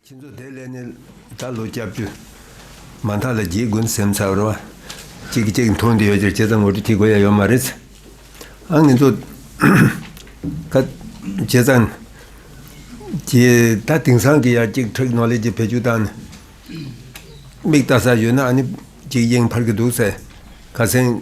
ཁྱེད་ཚོ་དེ་ལས་ནི་ད་ལོ་སྐྱབས་བཅོལ་མ་མཐའ་ལ་རྒྱའི་དགུན་སེམས་ཚབ་རོ། ཅིག་གིས་ཅིག་མཐོང་དུ་ཡོད་ཅེས་ཁྱེད་ཚོ་ངོ་སྤྲོད་བགྱི་དགོས་ཡ་ཡོད་མ་རེད། ཨང་ངེད་ཚོ། ཁ། ཁྱེད་ཚང། གིས་ད་དེང་སང་གི་ཡ་གཅིག་ཐེག་ནོ་ལེ་ཇི་བེད་སྤྱོད་བཏང་ནས། མིག་བལྟ་ས་ཡོད་ན་ཨ་ནི་ཅིག་གཡེང་འཕར་གི་འདུག་ཟེར། ཁ་སེང།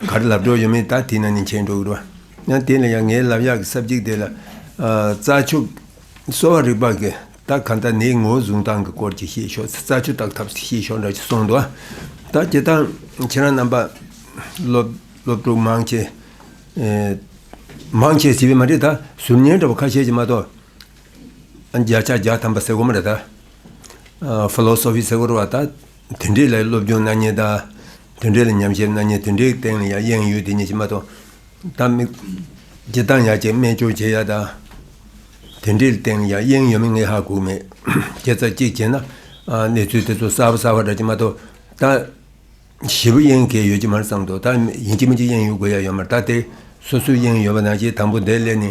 གར་ལབ་གྲོགས་ཡོད་མེད་ད་དེས་ན་ནི་མཁྱེན་འགྲོ་གི་རེད། ཡང་དེ་ལ་ཡང་ངའི་ལབ་གཡག་གི་སྲབ་གཅིག་དེ་ལ། རྩྭ་ཆུ། གསོ་བ་རིག་པ་གི་ད་ག་ད་ནེའི་ངོ་བཟུང་སྟངས་གི་སྐོར་གྱི་ཤེས་ཤོག་རྩྭ་ཆུ་བཏགས་ཐབས་ཤེས་ཤོག་འདྲ་ཅིག་གསུངས་འདུག་ད་དེ་དག་ཁྱེད་རང་རྣམ་པ། སློབ་ཕྲུག་མང་ཆེ། མང་ཆེ་ཟེར་བས་མ་རེད་ད་ཟུར་ཉན་འདྲ་བོ་ཁ་ཤས་ཀྱིས་མ་གཏོགས། བརྒྱ་ཆ་བརྒྱ་ཐམ་པ་ཟེར་གོ་མ་རེད་ད། Philosophy ཟེར་གོ་རེད་བ་ད། དེ་འདྲའི་ལས་སློབ་སྦྱོང་སྣ་གཉིས་དང། དེ་འདྲའི་ལས་ཉམས་བཞེས་སྣ་གཉིས་དེ་འདྲའི་སྟེང་ལ་ཡང་གཡེང་ཡུལ་དེ་ཉིད་ཕྱི་མ་དང། གཏམ་མི། ཀྱི་གཏམ་ཡག་ཅིག་སྨྲས་སྐྱོར་བྱེད་ཡག་དང། དེ་འདྲའི་སྟེང་ཡང་གཡེང་ཡོད་མེད་ངས་ཧ་གོ་མེད། ཁྱེད་ཚ་གཅིག་བྱས་ན། གནས་ཚུལ་དེ་ཚོ་གསར་བ་གསར་བ་རག་གི་མ་གཏོགས། ད། བཞི་པོ་གཡེང་གལ་ཡོད་ཀྱི་མར་བསམ་འདུག་ད། ཡིན་གཅིག་མིན་གཅིག་གཡེང་ཡོད་དགོས་ཡ་ཡོད་མར་ད་དེ། སོ་སོའི་གཡེང་ཡོད་པ་ནང་བཞིན་དང་པོ་བདེ་ལེགས་ནི།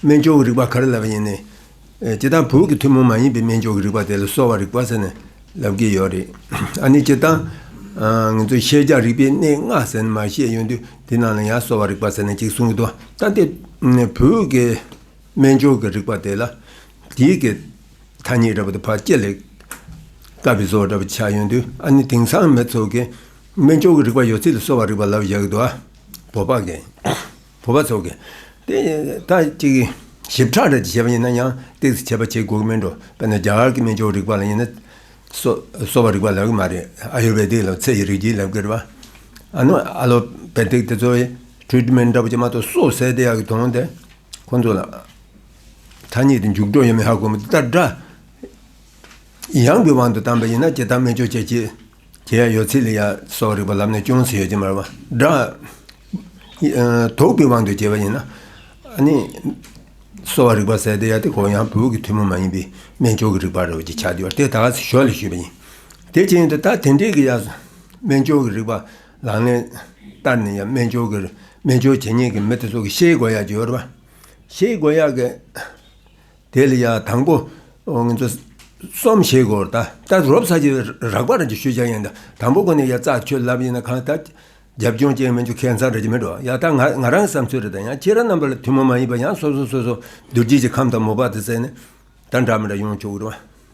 སྨན་སྦྱོར་གྱི་རིག་པ་གར་ལབ་པ་ཡིན། སྤྱིར་བཏང་བོད་ཀྱི་ཐུན་མོང་མ་ཡིན་པའི་སྨན་སྦྱོར་གྱི་རིག་པ་དེ་ལ་གསོ་བ་རིག་པ་ཟེར་ནས་ལབ་ཀྱི་ཡོད་རེད། ཨ་ནི་སྤྱིར་བཏང་ང་ཚོས་ཤེས་བྱ་རིག་པའི་གནས་ལྔ་ཟེར་ནས་མ་བཤད་ཡོད་དུས་དེ་རྣམས་ལ་ཡང་གསོ་བ་རིག་པ་ཟེར་ནས་གཅིག་གསུང་གི་འདུག་ད་ལྟའི་བོད་ཀྱི་སྨན་སྦྱོར་གྱི་རིག་པ་དེ་ལ་དེའི་གི་ཐ་སྙད་འདྲ་པོ་དེ་ཕར་སྐྱེད་ལེགས་དཀའ་བའི་བཟོ་བོ་འདྲ་པོ་ཆགས་ཡོད་དུས་ཨ་ནི་དེང་སང་མི་ཚོགས་ཀྱིས་སྨན་སྦྱོར་གྱི་རིག་པ་ཡོད་ཚད་ལ་གསོ་བ་རིག་པ་ལབ་བཞག་གི་འདུག་བོད་པ་གས། བུ་བ་ཚོ་གིས་ད་ཅིག་ཞིབ་ཕྲ་རེ་བྱེད་པ་ཡིན་ན་ཡང་སྟེགས་སུ་བྱེད་པ་བྱེད་དགོས་གི་མིན་འགྲོ་དཔེར་ན་རྒྱ་གར་གྱི་སྨན་སྦྱོར་རིག་པ་ལ་ཡིན་ན་གསོ་བ་རིག་པ་ལབ་གི་མ་རེད་ཨ་ཡུར་བེ་དིག་ལ་ཚེ་ཡི་རིག་བྱེད་ལབ་གི་རེད་བ་ཨ་ནུ་ཨ་ལོ་བེ་དིག་དེ་ཚོ Treatment འདྲ་པོ་བྱེད་མ་གཏོགས་གསོ་བསད་དེ་ཡག་གི་དོན་དེ་ཁོ་ཚོ་ལ་ཐ་སྙད་དེ་མཇུག་སྒྲོ་ཡོད་མེད་ཧ་གོ་མི་ཐུབ་ད་དྲ་ཡང་གི་དབང་དུ་བཏང་པ་ཡིན་ན་ཇི་ལྟར་སྨན་སྦྱོར་བྱེད་ཅེས། དེ་ཡང་ཡོད་ཚད་ལས་ཡ་སོགས་རིག་པ་ལམ་ནས་ཅུང་ཟད་ཡོད་ཀྱི་མ་རེད། སྒྲ། དོག་པའི་དབང་གིས་སྐྱེས་པ་ཡིན་ན། ནི། གསོ་བ་རིག་པ་གསལ་བདེ་ཡ་དེ་གོ་ཡང་བོད་ཀྱི་ཐུན་མོང་མ་ཡིན་པའི་སྨན་ལྕོགས་ཀྱི་རིག་པ་རེད་བརྗོད་ཆགས་བདེ་བ་དེ་དག་གིས་ཞོར་ལས་ཞུས་པ་ཡིན། དེ་ཅི་ཡིན་དུ་ད་དེ་འདྲའི་གི་ཡ། སྨན་ལྕོགས་ཀྱི་རིག་པ་ལག་ལེན། བསྟར་ནས་ཡ་སྨན་ལྕོགས་ཀྱི་སྨན་ལྕོགས་བྱེད་ཉན་གྱི་མི་དེ་ཚོ་གི་ཤེས་དགོས་ཡ་བརྗོད་རེད་པ། ཤེས་དགོས་ཡ་གི། དེ་ལ་ཡང་དང་པོ། སོམས་ཞེས་གོ། ད་ལྟར་རོབ་ཚ་གྱི་རགས་པ་རང་གིས་ཤོད་བྱ་ཡིན། དང་པོ་ཀུན་ནས་ཡ་རྩ་ཁྱོད་ལབ་ཡིན་ན་གང་ལྟ། རྒྱབ་ལྗོངས་ཅན་མི་འཇུག་ཁེ་མཚང་རེ་རེ་མི་འགྲོ། ཡ་ད་ང་ང་རང་གི་བསམ་ཚུལ་རེ་དང་ཡང་ཁྱེད་རང་རྣམ་པ་ལ་ཐུན་མོང་མ་ཡིན་པ་ཡང་སོ་སོ་སོ་སོ་རྡུལ་རྗེས་ཀྱི་ཁམས་དང་མོ་པ་དང་བརྩེགས་ནས། ད་འདྲ་མི་འདྲ་ཡོང་ཆོག་གི་རེད།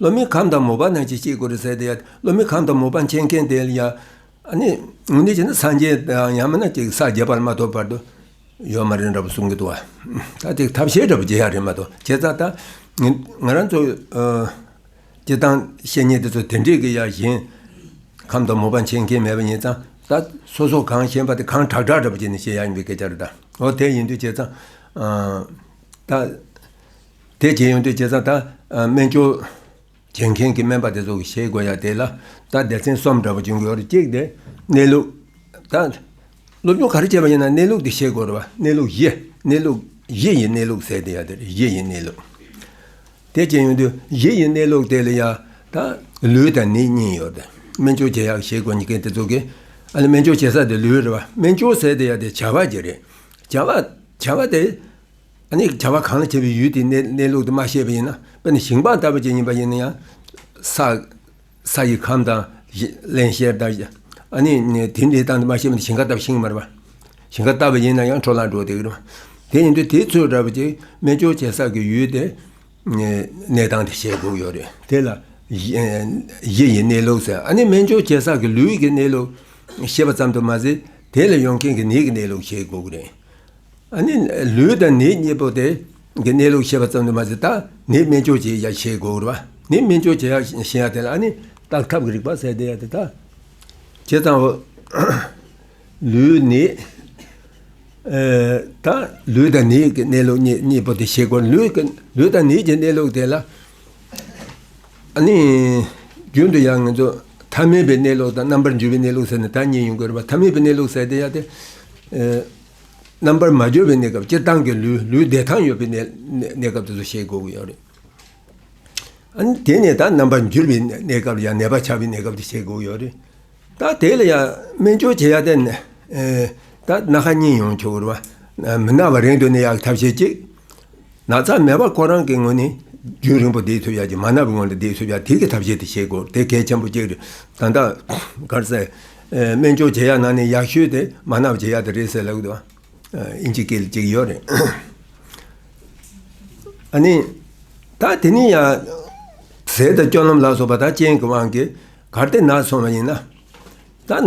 བློ་མིག་གམ་དང་མོ་པ་རྣམས་ཀྱིས་ཅི་དགོས་རེ་ཟད་དེ། བློ་མིག་གམ་དང་མོ་པ་མཁྱེན་མཁན་དེ་ཡང། ངོ་ནི་བྱས་ན་སངས་རྒྱས་དང་ཡང་མིན་ན་ཅིག་ས་བརྒྱད་པར་མ་ཐོབ་བར་དུ། ཡོད་མ་རེད་འདྲ་པོ་གསུང་གི་འདུག་བ། ད་ཅིག་ཐབས་ཤེས་འདྲ་པོ་བྱེད་ཡག་རེད་མ་གཏོགས་ཁྱེད་ཙག་ད། ང་རང་ཚོ། སྤྱི་བཏང་བཤེས་གཉེན་དེ་ཚོ་དེ་འདྲས་ཀྱི་ཡ་གཞན། གམ་དང་མོ་པ་མཁྱེན་མཁན་མེད་པ་ཡིན་ཙང་ད། སོ་སོ་གང་ཤེས་པ་དེ་གང་དྲག་དྲག་འདྲ་པོ་བྱས་ནས་བཤད་ཡག་ཡིན་པའི་སྐད་ཆ་རེད་ད། འོ་དེ་ཡིན་དུས་བྱས་ཙང། ད། དེ་རྗེས་ཡོན་ཏན་སྐྱེས་ཙང་ད་སྨན་སྐྱོར་བྱེད་མཁན་གྱི་སྨན་པ་དེ་ཚོ་གི་ཤེས་དགོས་ཡ་དེ་ལ་ད་སྡེ་ཚན་གསུམ་འདྲ་པོ་བྱུང་གི་ཡོད་རེད་གཅིག་དེ་གནས་ལུགས། ད་སློབ་སྦྱོང་ག་རེ་བྱས་པ་ཡིན་ན་གནས་ལུགས་དེ་ཤེས་དགོས་རེད་བ་གནས་ལུགས་བཞི་གནས་ལུགས་བཞི་ཡི་གནས་ལུགས་ཟེར་དེ་ཡ་དེ་རེད་བཞི་ཡི་གནས་ལུགས། དེ་རྗེས་ཡོན་ཏན་བཞི་ཡི་གནས་ལུགས་དེ་ལ་ཡ་ད་ལུས་དང་ནི་གཉིས་ཡོད་རེད་སྨན་སྐྱོར་བྱེད་ཡག་ཤེས་དགོས་མཁན་དེ་ཚོ་གི་ཨ་ལེ་སྨན་སྐྱོར་བྱེད་ས་དེ་ལུས་རེད་བ་སྨན་སྐྱོར་ཟེར་དེ་ཡ་དེ་བྱ་བ་གྱི་རེད་བྱ་བ་བྱ་བ་དེ། བྱ་བ་གང་ལ་བྱེད་པའི་ཡུལ་དེའི་གནས་ལུགས་དུ་མ་ཤེས་པ་ཡིན་ན་དཔེར་ན་ཞིང་སྤངས་ལྟ་བུ་ཅན་ཡིན་པ་ཡིན་ན་ཡང། ས་ཡི་ཁམས་དང། བརླན་གཤེར་ལྟ་བུ་ཅན། དེ་འདི་ལྟ་འདི་མ་ཤེས་པ་ནི་ཞིང་ཁ་ལྟ་བུ་ཤིང་མར་བ། ཞིང་ཁ་ལྟ་བུ་ཡིན་ན་ཡང་འཕྲོ་བརླག་འགྲོ་སྟེ་ཀྱི། དེ་ཡིན་དུས་དེའི་ཚུལ་འདྲ་བུ་ཅན་སྨན་སྦྱོར་བྱེད་ས་ཀྱི་ཡུལ་དེ། གནས་སྟངས་དེ་བཤད་དགོས་ཡོད་རེད། དེ་ལ། གཞི་ཡི་གནས་ལུགས་ཟེར། སྨན་སྦྱོར་བྱེད་ས་ཀྱི་ལུས་ཀྱི་གནས་ལུགས། ཤེས་པ་ཙམ་དུ་མ་ཟད་དེ་ལ་ཡོང་མཁན་གྱི་ནད་ཀྱི་གནས་ལུགས་ཤེས་དགོས་ཀྱི་རེད། ལུས་དང་ནི་གཉིས་པོ་སྟེ། གི་གནས་ལུགས་ཤེས་པ་ཙམ་དུ་མ་ཟད་དང་ནི་སྨན་སྦྱོར་བྱེད་ཡ་ཞེས་དགོས་པར་བ་ནི་སྨན་སྦྱོར་བྱེད་ཡ་ཞེས་ཡང་དེ་ལ་ནི་རྟགས་ཐབས་ཀྱི་རིགས་པ་གསལ་བསྟན་ཡ་དེ་ལྟ་བྱེད་ཙམ་བོ། ལུས་ནི། དང། ལུས་དང་ནི་གི་གནས་ལུགས་གཉིས་པོ་དེ་ཤེས་དགོས། ལུས་དང་ནི་གྱི་གནས་ལུགས་དེ་ལ། ནི། རྒྱུན་དུ་ཡང་ངེས་འཛོག་ཐ་མལ་པའི་གནས་ལུགས་དང་རྣམ་པར་འགྱུར་བའི་གནས་ལུགས་ཟེར་ནས་ད་གཉིས་ཡོང་དགོས་པར་བ་ཐ་མལ་པའི་གནས་ལུགས་གསལ་བསྟན་ཡ་དེ། རྣམ་པར་མ་གྱུར་པའི་གནས་སྐབས་སྤྱིར་བཏང་གི་ལུས་ལུས་བདེ་ཐང་ཡོད་པའི་གནས་གནས་སྐབས་དེ་ཚོ་བཤད་དགོས་ཀྱི་ཡོད་རེད། ཨཱ་ནི་དེ་ནས་ད་རྣམ་པར་འགྱུར་བའི་གནས་སྐབས་ཡང་ནད་པ་ཆགས་པའི་གནས་སྐབས་དེ་བཤད་དགོས་ཀྱི་ཡོད་རེད། ད་དེ་ལ་ཡང་སྨན་སྦྱོར་བྱེད་ཡ་དེ་ནི། ད་སྣ་ཁ་གཉིས་ཡོང་ཆོག་གི་རེད། མི་ན་བ་རིང་དུ་གནས་ཡག་གི་ཐབས་བྱེད་ཅིག། ན་ཚ་མེད་པར་ཁོ་རང་གི་ངོས་ནས་རྒྱུན་རིང་པོ་བསྡད་ཐུབ་ཡ་ཀྱི་མ་ནར་ངོས་ལ་བསྡད་ཐུབ་ཡ་དེ་གི་ཐབས་ཤེས་དེ་བྱེད་དགོས་དེ་གལ་ཆེན་པོ་གཅིག་རེད་ད། ད་གར་ཚེ་སྨད་ཆུང་བྱེད་ཡ་ན་ནས་ཡག་ཤོས་དེ་མ་ནར་བྱེད་ཡ་དེ་རེད་ཟེར་ལབ་དུ་ཨིན་ཇི་སྐད་ཅིག་ཡོད་རེད། ཨ་ནི། ད་དེ་ནས་ཡང་ཟས་དང་སྐྱོ་ལམ་ལ་སོགས་པ་ད་ཅན་གི་དབང་གིས་གར་སྟེགས་ནར་སོང་བ་ཡིན་ན། ད།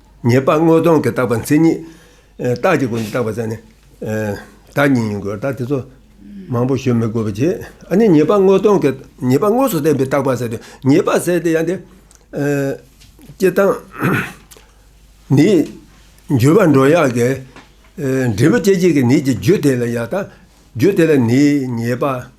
ཉེས་པ་དངོས་སྟོང་གིས་བཏགས་པ་མཚན་ཉིད། རྟགས་ཀྱི་སྒོ་ནས་བཏགས་པ་ཙམ་ནི། བདག་ཉིད་ཡིན་དགོས་རྟགས་དེ་ཚོ། མང་པོ་ཞུ་མི་དགོས་པ་གྱིས། ཨ་ནི་ཉེས་པ་དངོས་སྟོང་གིས། ཉེས་པ་དངོས་སུ་བསྟན་པའི་བཏགས་པ་ཟེར་ཏེ། ཉེས་པ་ཟེར་ཏེ་ཡང་དེ། སྐྱེ་དང། ནི། འགྱུར་བ་འགྲོ་ཡག་གི། འབྲས་བུ་སྐྱེད་བྱེད་ཀྱི་ནི་ཀྱི་རྒྱུ་དེ་ལ་ཡང་དང། རྒྱུ་དེ་ལ་ནི། ཉེས་པ།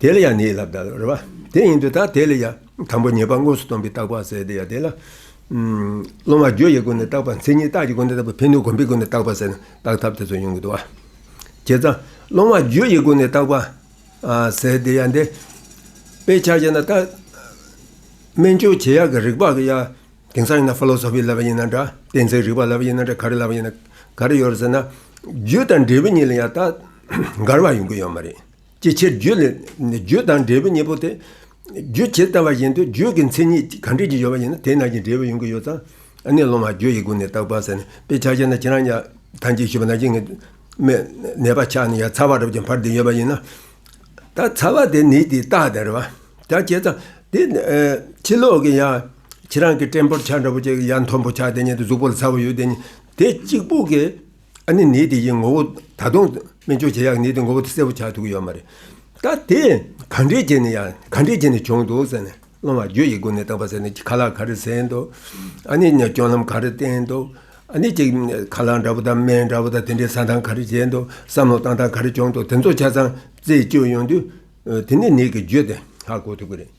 དེ་ལ་ཡང་ནི་ལ་བཟླ་བར། དེ་ཡིན་དུ་དང་དེ་ལ་ཡང་དང་པོ་ཉེས་པ་དངོས་སུ་སྟོན་པའི་བརྟག་པ་བསལ་ཏེ་ཡང་དེ་ལ། སློང་བ་རྒྱུ་ཡི་སྒོ་ནས་བརྟག་པ་མཚན་ཉིད་རྟགས་ཀྱི་སྒོ་ནས་བརྟག་པ་ཕན་ནུས་གོམས་པའི་སྒོ་ནས་བརྟག་པ་བསལ་ན་བརྟག་ཐབས་དེ་ཚོ་ཡོང་གི་འདུག་བ། བྱས་ཙང། སློང་བ་རྒྱུ་ཡི་སྒོ་ནས་བརྟག་པ། བསལ་ཏེ་ཡང་དེ། དཔེའི་ཆ་བྱས་ན་བརྟག། སྨན་སྦྱོར་བྱེད་ཡག་གི་རིགས་པ་ཡ། དེང་སང་ཡིན་ན Philosophy ལབ་པ་ཡིན་ན་འདྲ། གཏན་ཚིགས་རིག་པ་ལབ་པ་ཡིན་ན་འདྲ་ག་རེ་ལབ་པ་ཡིན་ན་ག་རེ་ཡོད་རེད་ཟེར་ན། རྒྱུ་དང་འབྲས་བུ་གཉིས་ལ་ཡང་བརྟག། འགལ་བ་ཡོང་གི་ཡོད་མ་རེད། ཅིའི་ཕྱིར་རྒྱུད་ལས་ནི་རྒྱུད་དང་འབྲས་བུའི་གཉེན་པོ་སྟེ། རྒྱུད་ཇི་ལྟ་བ་བཞིན་དུ་རྒྱུད་ཀྱི་མཚན་ཉིད་གང་འབྲས་ཀྱི་ཡོད་པ་ཡིན་ན་དེ་རྣམས་ཀྱི་འབྲས་བུ་ཡོང་གི་ཡོད་ཙང་ནི་སློང་བ་རྒྱུ་ཡི་སྒོ་ནས་བརྟག་པར་ཟད་ནས་པའི་ཆ་ཤས་ན་ཁྱེད་རང་ཉག་ཐང་གཅིག་ཞུ་བ་ན་གཅིག་ངེས་མེད་ནད་པ་ཆགས་ནས་ཡང་ཚ་བ་རབ་ཀྱི་བར་དེ་ཡོད་པ་ཡིན་ན། ད་ཚ་བ་དེ་ནི་དེ་རྟགས་དེར་བ་ཅག་བྱས་ཙང་དེ་ཕྱི་ལོག་གི་ཡང་ཁྱེད་རང་གི་སྐྲན་པོར་ཆགས་འདྲ་པོ་ཅིག་ཡང་མཐོན་པོ་ཆགས་དེ་ཉིད་དུ་གཟུགས་པོ་ལ་ཚ་བ་ཡོད་དེ་ཉིད་དེ་གཅིག་པུ་གི། ཨ་ནི་ནད་དེ་ཡི་ངོ་བོ་ད་དུང་སྨན་བཅོས་བྱེད་ཡག་ནད་དེ་ངོ་བོ་དེ་གསལ་བོ་ཆགས་ཐུག་ཡོད་མ་རེད་ད་དེ་ག་འདྲས་བྱས་ནས་ཡ་ག་འདྲས་བྱས་ནས་བྱུང་འདུག་ཟེར་ནས་སློང་བ་རྒྱུ་ཡི་སྒོ་ནས་བཏགས་པ་ཟེར་ནས་ཁ་ལག་ག་རེ་ཟེར་འདུག་ཨ་ནི་སྐྱོན་ལམ་ག་རེ་བསྟན་འདུག་ཨ་ནི་ཅིག་ཁ་ལག་འདྲ་པོ་དང་སྨན་འདྲ་པོ་དང་དེ་འདྲས་ཟ་སྟངས་ག་རེ་བྱས་འདུག་བསམ་བློ་བཏང་སྟངས་ག་རེ་བྱུང་འདུག་དེ་ཚོ་ཆ་ཚང་རྩད་གཅོད་ཡོང་དུས་དེ་ནས་ནད་ཀྱི་རྒྱུ་དེ་ཧ་གོ་ཐུབ་ཀྱི་རེད།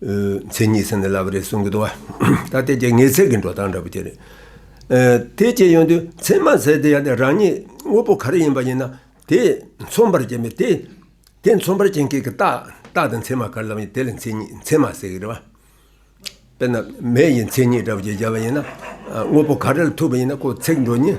མཚན་ཉིད་ཟེར་ནས་ལབ་རེད་གསུང་གི་འདུག་བ། ད་ལྟའི་རྒྱ་ངེས་ཚད་ཀྱི་འགྲོ་སྟངས་འདྲ་པོ་དེ་རེད། དེ་སྐྱེས་ཡོང་དུས་མཚན་མ་ཟེར་དེ་ཡང་ནི་རང་ཉིད་དངོས་པོ་ག་རེ་ཡིན་པ་ཡིན་ན་དེ་མཚོན་པར་བྱེད་མི་དེ། དེ་མཚོན་པར་བྱེད་མཁན་གྱི་རྟགས་རྟགས་དང་མཚན་མ་ག་རེ་ལབ་ཡིན་དེ་ལ་མཚན་ཉིད་མཚན་མ་ཟེར་གི་རེད་བ། དཔེར་ན་མེ་ཡི་མཚན་ཉིད་འདྲ་པོ་ཞིག་བྱས་པ་ཡིན་ན། དངོས་པོ་ག་རེ་ལ་ཐུག་པ་ཡིན་ན་ཁོ་ཚེགས་འགྲོ་ཉིན།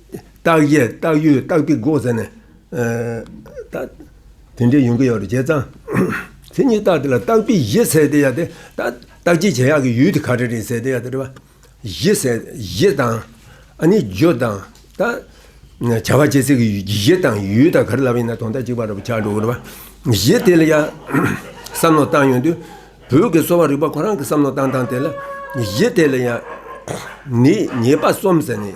སྟག་གཡས་སྟག་གཡུ་སྟག་པི་སྒོ་ཟེར་ནས། དེ་འདྲའི་ཡོང་གི་ཡོད་རེད་བྱས་ཙང། མཚན་ཉིད་སྟག་དེ་ལ་སྟག་པི་བཞི་ཟེར་ཏེ་ཡ་དེ། སྟག་གཅིག་བྱས་ཡག་གི་ཡུལ་དེ་ག་རེ་རེད་ཟེར་ཏེ་ཡ་དེ་རེད་པ། བཞི་ཟེར་བཞི་དང། ཨ་ནི་བརྗོད་དང། བྱ་བ་བྱེད་ཚིག་གི་བཞི་དང་ཡུལ་དང་ག་རེ་ལབ་ཡིན་ན་དོན་དག་གཅིག་པ་རེད་པ་ཆགས་འགྲོ་གི་རེད་པ། བཞི་དེ་ལ་ཡ། བསམ་བློ་བཏང་ཡོང་དུས། བོད་ཀྱི་གསོ་བ་རིག་པ་ཁོ་རང་གི་བསམ་བློ་བཏང་སྟངས་དེ་ལ། བཞི་དེ་ལ་ཡ། ནི་ཉེས་པ་གསུམ་ཟེར་ནས།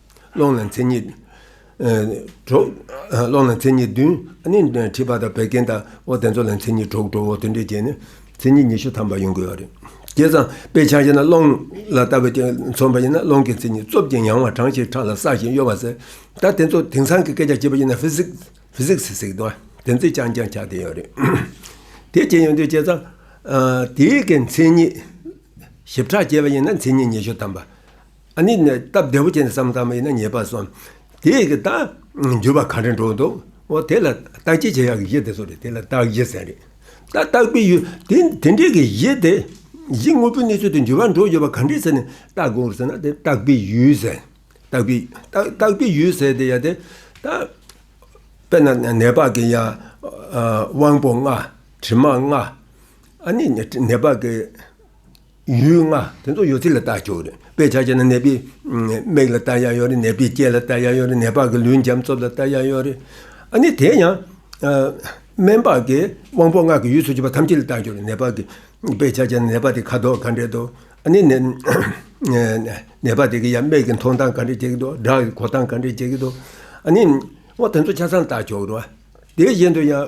ཀློང་ལ་མཚན་ཉིད་བདུན། མཁྲིས་པ་དང་བད་ཀན་དང་བོ་དེ་ཚོ་ལ་མཚན་ཉིད་དྲུག་དྲུག་དེ་འདྲས་བྱས་ནས་མཚན་ཉིད་ཉི་ཤུ་ཐམ་པ་ཡོང་དགོས་པ་རེད། དེ་ཙམ་དཔེ་ཆ་ཤེས་ན་ཀློང་ལ་ལྟ་བའི་སྟེང་མཚོན་པ་ཡིན་ན་ཀློང་གི་མཚན་ཉིད་རྩུབ་ཅིང་ཡང་བ་གྲངས་ཤིག་ཁྲག་ལ་བསགས་ཤིང་གཡོ་བ་ཟེར། ད་དེ་ཚོ་དེང་སང་གི་སྐད་ཆ་བྱེད་པ་ཡིན་ན Physics ཟེར་གི་འདུག་དེ་ཚོའི་ཅང་ཅང་ཆགས་བསྡད་ཡོད་རེད། དེ་བྱས་ཡོང་དུས་བྱས་ཙང། དེའི་གི་མཚན་ཉིད་ཞིབ་ཕྲ་བྱས་པ་ཡིན་ན་མཚན་ཉིད་ཉི་ཤུ་ཐམ་པ། ཨ་ནི་ནི་སྟབས་བདེ་བོ་ཅན་དུ་བསམ་ཙམ་ཡིན་ན་ཉེས་པར་སོང། དེ་ཡི་གི་དང། འགྱུར་བ་གང་དྲན་འགྲོ་འདུག་འོ་དེ་ལ་རྟགས་ཅི་བྱེད་ཡག་གི་གཞི་དེ་ཚོ་རེད་དེ་ལ་རྟགས་གཞི་ཟེར་རེད། ད་རྟགས་པའི་ཡུལ་དེ་དེ་འདྲའི་གི་གཞི་དེ། གཞི་དངོས་པོའི་གནས་ཚུལ་དེ་འགྱུར་བ་འགྲོ་ཡོད་པ་གང་དྲན་ཟེར་ནས་རྟགས་གོ་ཟེར་ན་དེ་རྟགས་པའི་ཡུལ་ཟེར། རྟགས་པའི་རྟགས་པའི་ཡུལ་ཟེར་དེ་ཡ་དེ། ད། དཔེར་ན་ནད་བག་གི་ཡ། དབང་པོ་ལྔ། དྲི་མ་ལྔ། ཨ་ནི་ནི་ནད་བག་གི། ཡུལ་ལྔ་དེ་ཚོ་ཡོད་ཚད་ལ་བལྟ་ཆོག་རེད་དཔེ་ཆ་ཅན་ནི་ནད་པའི་མིག་ལ་བལྟ་ཡག་ཡོད་རེད་ནད་པའི་ལྕེ་ལ་བལྟ་ཡག་ཡོད་རེད་ནད་པ་གི་ལུས་འཇམ་རྩུབ་ལ་བལྟ་ཡག་ཡོད་རེད་ཨ་ནི་དེ་ཡང་སྨན་པ་གི་དབང་པོ་ལྔ་གི་ཡུལ་སུ་བྱེད་པ་ཐམས་ཅད་ལ་བལྟ་ཆོག་རེད་ནད་པ་གི་དཔེ་ཆ་ཅན་ནི་ནད་པ་དེ་ཁ་དོག་ག་འདྲས་འདུག་ཨ་ནི་ནད་པ་དེ་གི་ཡང་མིག་གི་མཐོང་སྟངས་ག་འདྲས་བྱེད་ཀྱི་འདུག་སྒྲ་གི་གོ་སྟངས་ག་འདྲས་བྱེད་ཀྱི་འདུག་ཨ་ནི་དེ་ཚོ་ཆ་ཚང་བལྟ་ཆོག་རེད་དེ་བཞིན་དུ་ཡང།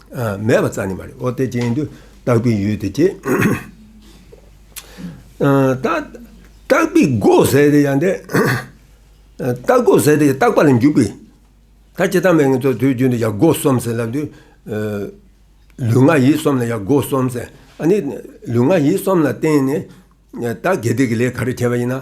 མེད་པ་རྩ་ནི་མ་རེད་ཨོ་དེ་ཅན་དུ་བརྟག་པའི་ཡུལ་དེ་ཅི། བརྟག་པའི་སྒོ་ཟེར་ཏེ་ཡང་དེ། བརྟག་སྒོ་ཟེར་ཏེ་བརྟག་པ་ལ་འཇུག་པའི། ད་ཅི་བརྟག་མེད་ངེས་རྫོགས་དུས་རྒྱུན་དུ་ཡང་སྒོ་གསུམ་ཟེར་ལབ་དུས། ལུས་ངག་ཡིད་གསུམ་ལ་ཡང་སྒོ་གསུམ་ཟེར། ཨ་ནི་ལུས་ངག་ཡིད་གསུམ་ལ་བརྟེན་ནས་བརྟག་དགེ་སྡིག་གི་ལས་ག་རེ་བྱས་པ་ཡིན་ན།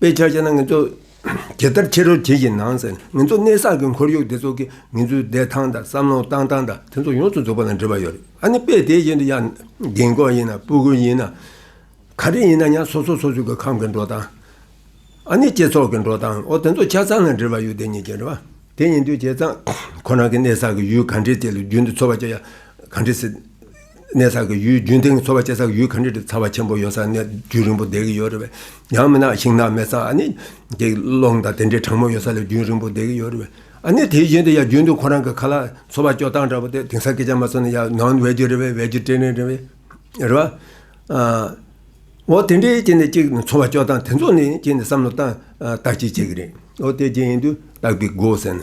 དཔེ་ཆ་བྱས་ན་ངེད་ཚོ་ཇི་ལྟར་ཕྱི་རོལ་གྱིས་ཀྱི་ནང་ཟེར་ན་ངེད་ཚོ་གནས་བསགས་ཀྱི་འཁོར་ཡུག་འདི་ཚོ་གིས་ངེད་ཚོའི་བདེ་ཐང་དང་བསམ་བློ་བཏང་སྟངས་དང་དེ་ཚོ་ཡོངས་སུ་རྫོགས་པ་ན་འབྲེལ་བ་ཡོད་རེད་ཨ་ནི་དཔེ་དེ་བཞིན་དུ་ཡང་རྒན་འཁོགས་ཡིན་ན་སྤུ་གུ་ཡིན་ན་ག་རེ་ཡིན་ན་ཡང་སོ་སོ་སོ་སོ་གི་ཁམས་ཀྱི་འགྲོ་སྟངས་ཨ་ནི་སྤྱི་ཚོགས་ཀྱི་འགྲོ་སྟངས་འོ་དེ་ཚོ་ཆ་ཚང་ལ་འབྲེལ་བ་ཡོད་དེ་གཉིས་ཀྱི་འབྲེལ་བ་དེ་ཡིན་དུས་བྱས་ཙང་ཁོ་རང་གི་གནས་བསགས་ཀྱི་ཡུལ་ག་འདྲའི་དེ་ལ་རྒྱུན་དུ་འཚོ་བ་བྱས་ཡ་ག་འདྲའི་སྲིད་གནས་བསགས་ཀྱི་ཡུལ་རྒྱུན་ལྡན་གྱི་འཚོ་བ་སྐྱེལ་ས་ཀྱི་ཡུལ་ག་འདྲི་འདྲི་ཚ་བ་ཆེན་པོ་ཡོད་ས་ནས་རྒྱུན་རིང་པོ་བསྡད་ཀྱི་ཡོད་རེད་བས། ཡང་མིན་ན་ཤིང་ནགས་མེད་ས་ཨ་ནི། དེ་ཀློང་དང་དེ་འདྲའི་གྲང་མོ་ཡོད་ས་ལ་རྒྱུན་རིང་པོ་བསྡད་ཀྱི་ཡོད་རེད་བས། ཨ་ནི་དེ་བཞིན་དུ་ཡང་རྒྱུན་དུ་ཁོ་རང་གི་ཁ་ལ་འཚོ་བ་སྐྱོལ་སྟངས་འདྲ་པོ་དེ་དེང་སང་སྐད་ཆ་མ་ཚོར་ན་ཡང་ནང་དུ་བས་རྒྱུ་རེད་བས་བས་རྒྱུ་དྲན་རེད་བས། རེད་བ། འོ་དེ་འདྲའི་སྐྱེས་ནས་གཅིག་འཚོ་བ་སྐྱོལ་སྟངས་དེ་ཚོ་ནི་སྐྱེས་ནས་བསམ་བློ་བཏང་བཏགས་ཅིག་བྱེད་ཀྱི་རེད། འོ་དེ་རྗེས་ཡིན་དུས་བཏགས་པའི་སྒོ་ཟེར་ན།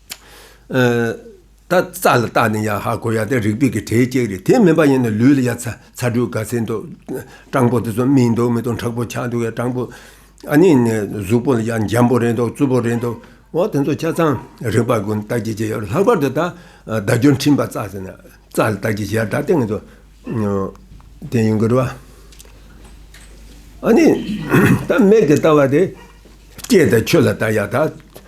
ད་རྩ་ལ་བཏགས་ནས་ཡ་ཧ་གོ་ཡ་དེ་རིག་པའི་གི་གྲས་གཅིག་རེད་དེ་མིན་པ་ཡིན་ན་ལུས་ལ་ཡ་ཚ་ཚ་དྲོད་ག་ཚད་འདུག་སྤྲང་པོ་དེ་ཚོ་སྨིན་འདུག་མི་འདུག་འཁྲག་པོ་ཆགས་འདུག་ཡ་སྤྲང་པོ་ཨ་ནི་གཟུགས་པོ་ལ་ཡ་འཇམ་པོ་རེད་འདུག་རྩུབ་པོ་རེད་འདུག་འོ་དེ་ཚོ་ཆ་ཚང་རིག་པ་ཀུན་བརྟག་དཔྱད་བྱེད་ཡོད་ལྷག་པར་དུ་ད་བརྡ་སྦྱོར་འཕྲིན་པ་རྩ་ཟེར་ན་རྩ་ལ་བརྟག་དཔྱད་བྱེད་ཡ་ད་ལྟེང་དུ་དེ་ཡིན་དགོས་རེད་བ། ཨ་ནི་ད་མེད་ཀི་ལྟ་བ་དེ་སྐྱེས་དང་ཆོས་ལ་བལྟ་ཡ་ད།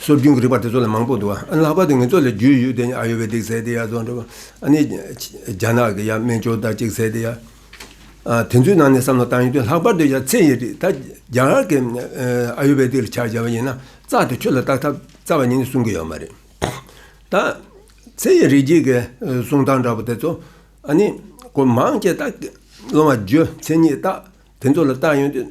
སྲོལ་རྒྱུན་གྱི་རིག་པ་དེ་ཚོ་ལ་མང་པོ་འདུག་ཨ་ནི་ལྷག་པར་དུ་ངེད་ཚོ་ལ་རྒྱུས་ཡོད་དེ་ཨ་ཡོ་བེ་དིག་ཟེར་དེ་ཡ་ཚོ་འགྲོ་བ་ཨ་ནི་རྒྱ་ནག་གི་ཡ་སྨན་ཅོ་ད་ཅིག་ཟེར་དེ་ཡ་དེ་ཚོའི་ནང་ནས་བསམ་བློ་བཏང་ཡོད་དུས་ལྷག་པར་དུ་ཡ་ཚེ་ཡི་རིག་ད་རྒྱ་གར་གྱི་ཨ་ཡོ་བེ་དིག་ལ་ཆ་བཞག་པ་ཡིན་ན་རྩ་དེ་ཆུ་ལ་བཏགས་ཐབས་རྩ་བ་ཉིད་ནས་གསུང་གི་ཡོད་མ་རེད་ད། ཚེ་ཡི་རིག་བྱེད་ཀྱི་གསུང་སྟངས་འདྲ་པོ་དེ་ཚོ་ཨ་ནི་གོ་མང་ཆེ་ད་སློང་བ་ཇོ་ཚེ་ཉིད་ད་དེ་ཚོ་ལ་བཏགས་ཡོད་དུས།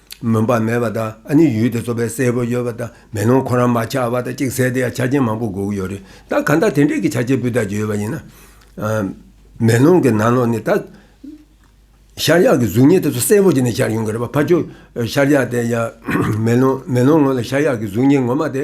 མུན་པ་མེད་པ་དང་ཨ་ནི་ཡུལ་དེ་ཚོ་བས་གསལ་པོ་ཡོད་པ་དང་མེ་ལོང་ཁོ་རང་མ་ཆགས་པ་དང་གཅིག་བསལ་དེ་ཡང་ཆ་རྐྱེན་མང་པོ་དགོས་ཀྱི་ཡོད་རེད་ད་གང་ལྟར་དེ་འདྲས་ཀྱི་ཆ་རྐྱེན་སྤུས་དག་ཅིག་ཡོད་པ་ཡིན་ན། མེ་ལོང་གི་ནང་ལོགས་ནི་ད་ཤར་ཡག་གི་གཟུགས་བརྙན་དེ་ཚོ་གསལ་པོ་ཅིག་ནས་ཤར་ཡོང་གི་རེད་པ་ཕ་ཅོ་ཤར་ཡག་དེ་ཡང་མེ་ལོང་ངོས་ལ་ཤར་ཡག་གི་གཟུགས་བརྙན་ངོ་མ་དེ་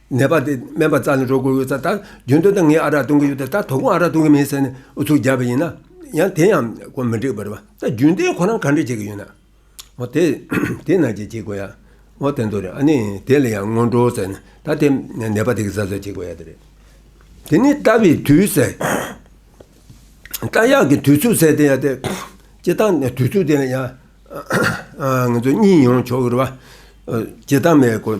ནད་པ་དེས་སྨན་པ་རྩ་ནས་འགྲོ་དགོས་ཡོད་ཚ་ད་རྒྱུན་དུ་ད་ངས་ཨ་རག་གཏོང་གི་ཡོད་ད་ད་ད་གུང་ཨ་རག་གཏོང་གི་མིན་ཟེར་ནས་ཨུ་ཚུགས་རྒྱག་པ་ཡིན་ན། ཡང་དེ་ཡང་ཁོ་མི་འགྲིག་པ་རེད་པ་ད་རྒྱུན་དེ་ཁོ་རང་ག་འདྲས་བྱེད་ཀྱི་ཡོད་ན། འོ་དེ་དེ་ན་ཅི་བྱེད་དགོས་ཡ། འོ་དེ་འདོ་རེད་ཨ་ནི་དེ་ལ་ཡང་སྔོན་འགྲོ་ཟེར་ནས་ད་དེ་ནད་པ་དེ་གི་ཟ་ཟོས་བྱེད་དགོས་ཡ་དེ་རེད། དེ་ནས་ལྟ་བའི་དུས་ཟེར། ལྟ་ཡག་གི་དུས་ཚོད་ཟེར་དེ་ཡ་དེ། བྱེད་སྟངས་དུས་ཚོད་དེ་ཡང། ང་ཚོ་གཉིས་ཡོང་ཆོག་གི་རེད་པ། བྱེད་སྟངས་མེད་ཀོ།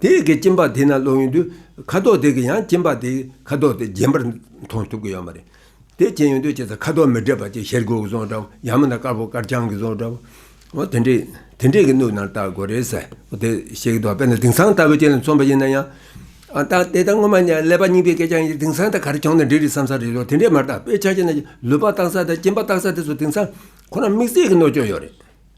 དེ་ཡི་གེ་སྐྱིན་པ་དེས་ན་བློ་ཡུལ་དུ་ཁ་དོག་དེ་གི་ཡང་སྐྱིན་པ་དེའི་ཁ་དོག་དེ་རྗེན་པར་མཐོང་ཐུབ་ཀྱི་ཡོད་མ་རེད། དེ་སྐྱིན་ཡོད་དུས་ཅི་ཚ་ཁ་དོག་མི་འདྲེས་པ་ཅིག་ཤེལ་སྒོའི་རྫོང་འདྲ་བོ་ཡང་མིན་ན་དཀར་པོ་དཀར་རྐྱང་གི་རྫོང་འདྲ་བོ། དེ་འདྲའི་དེ་འདྲའི་གི་སྣུབས་ནང་བལྟ་དགོས་རེད་ཟེར། དེ་ཤེལ་གྱི་དོག་པས་ན་དིང་སང་ལྟ་བུའི་སྐྱིན་ལ་མཚོན་པ་ཡིན་ན་ཡང། ཨ་ད་དེ་ལྟར་སྔོན་མ་ནས་ཀླད་པ་རྙིང་པའི་སྐད་ཆ་ཡིན་དིང་སང་དང་ག་རེ་གྱོང་ན་འདྲེས་རེད་བསམ་ས་རེད་དེ་འདྲས་མ་རེད་དཔེ་ཆ་ཅིག་ན་ལུད་པ་བཏགས་ས་དང་སྐྱིན་པ་བཏགས་ས་དེ་ཚོ་དིང་སང་ཁོ་རང་དམིགས་བསལ་གྱི་གནོད་སྐྱོན་ཡོད་རེད།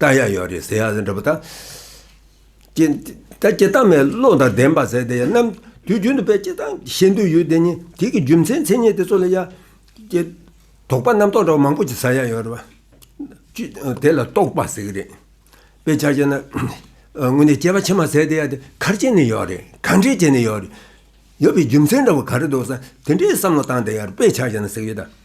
རྟགས་ཡག་ཡོད་རེད་ཟེར་ཡག་ཟེར་འདྲ་པོ་དང། ད་སྐྱེ་སྟངས་མའི་བློ་དང་ལྡན་པ་ཟེར་དེ་ཡང་ནམ་དུས་རྒྱུན་དུ་པའི་སྐྱེ་སྟངས་བཞིན་དུ་ཡོད་དེ་ནི་དེ་གི་རྒྱུ་མཚན་མཚན་ཉིད་དེ་ཚོ་ལ་ཡ། ཀྱེ། དོགས་པ་རྣམ་རྟོག་འདྲ་བོ་མང་པོ་ཅིག་ཟ་ཡག་ཡོད་རེད་བ། དེ་ལ་རྟོགས་པ་ཟེར་གྱི་རེད། དཔེ་ཆ་བྱས་ན། དངོས་གནས་སྐྱེ་བ་ཕྱི་མ་ཟེར་དེ་ཡ་དེ་གར་སྐྱེས་ནས་ཡོད་རེད་གང་འདྲས་སྐྱེས་ནས་ཡོད་རེད། ཡོད་པའི་རྒྱུ་མཚན་འདྲ་བོ་ག་རེ་འདུག་ས་དེ་འདྲའི་བསམ་བློ་བཏང་དེ་ཡར་དཔེ་ཆ་བྱས་ན་ཟེར་གྱི་རེད་ད།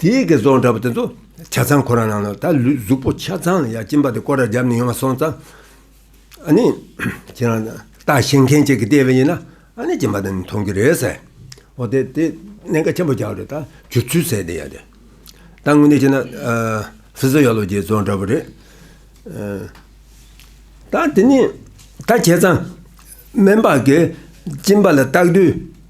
དེའི་དགེ་རྫོང་འདྲ་པོ་དེ་ཚོ་ཆ་ཚང་ཁོ་རང་ནང་ལ་ད་ལུས་གཟུགས་པོ་ཆ་ཚང་ལ་ཡ་གཅིན་པ་དེ་སྐོར་ར་རྒྱབ་ནས་ཡོང་བ་སོང་ཙང་ཨ་ནི་ཁྱེད་རང་ལྟ་ཞེན་མཁན་གཅིག་གིས་བལྟས་པ་ཡིན་ན་ཨ་ནི་གཅིན་པ་དེ་ནི་མཐོང་གི་རེད་ཟེར། འོ་དེ་དེ་གནད་འགག་ཆེན་པོ་རྒྱག་རེད་ད་གྱུར་ཚུལ་ཟེར་དེ་ཡ་དེ། ད་དངོས་གནས་བྱས་ན་ཧྥི་ཟོ་ཡ་ལོ་དགེ་རྫོང་འདྲ་པོ་རེད། ད་དེ་ནི་ད་ཁྱེད་ཚང་སྨན་པ་གིས་གཅིན་པ་ལ་བརྟག་དུས་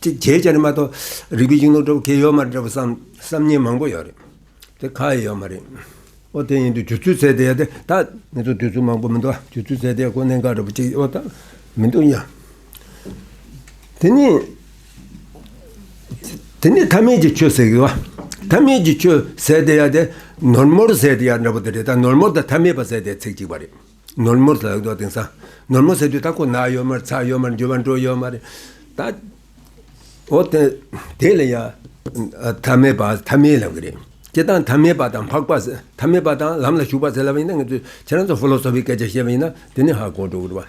ཅེས་བྱའི་སྐྱ་རེངས་མ་གཏོགས་རིག་པའི་གཞུང་ལུགས་འདྲ་བོ་གལ་ཡོད་མ་རེད་འདྲ་བོ་བསམ་བསམ་ཉེས་མང་པོ་ཡོད་རེད། དེ་ཁ་ཡོད་མ་རེད། ཨོ་དེ་ཡིན་དུས་དུས་ཚོད་ཚད་དེ་དེ་ད་ངེད་ཚོ་དུས་ཚོད་མང་པོ་མི་འདུག་དུས་ཚོད་ཚད་དེ་ཁོ་གནད་འགག་འདྲ་པོ་གཅིག་ཨོ་ད་མི་འདུག་ཡ། དེ་ནི་དེ་ནི་ཐ་མལ་གྱི་ཆོས་ཟེར་གི་བ། ཐ་མལ་གྱི་ཆོས་ཟེར་དེ་ཡ་དེ་ནོར་མོར་ཟེར་དེ་ཡ་འདྲ་པོ་དེ་རེད་ད་ནོར་མོར་དང་ཐ་མལ་པ་ཟེར་དེ་ཚེག་གཅིག་པ་རེད། ནོར་མོ་ཟ་འདོད་དེང་སང། ནོར་མོ་ཟེར་དུས་ད་ཁོ་ན་གཡོ་མར་ཚ་གཡོ་མར་འགྱུར་བ་འགྲོ་གཡོ་མ་རེད། ད། འོ་དེ། དེ་ལ་ཡང། ཐ་མལ་པ་ཐ་མལ་ལབ་གི་རེད། སྤྱི་བཏང་ཐ་མལ་པ་དང་འཕགས་པ། ཐ་མལ་པ་དང་ལམ་ལ་ཞུགས་པ་ཟེར་ལབ་པ་ཡིན་ན་ངས་ཚོས་ཁྱེད་རང་ཚོ་ཧྥོ་ལོ་སོ་ཕིའི་སྐད་ཆ་བཤད་པ་ཡིན་ན་དེ་ནི་ཧ་གོ་འགྲོ་གི་རེད་བ།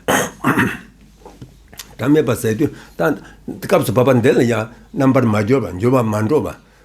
ཐ་མལ་པ་ཟེར་དུས་ད། སྐབས་སུ་བབ་པ་འདི་ལ་ཡང་རྣམ་པར་མ་འགྱུར་བ་འགྱུར་བ་མ་འགྲོ་བ།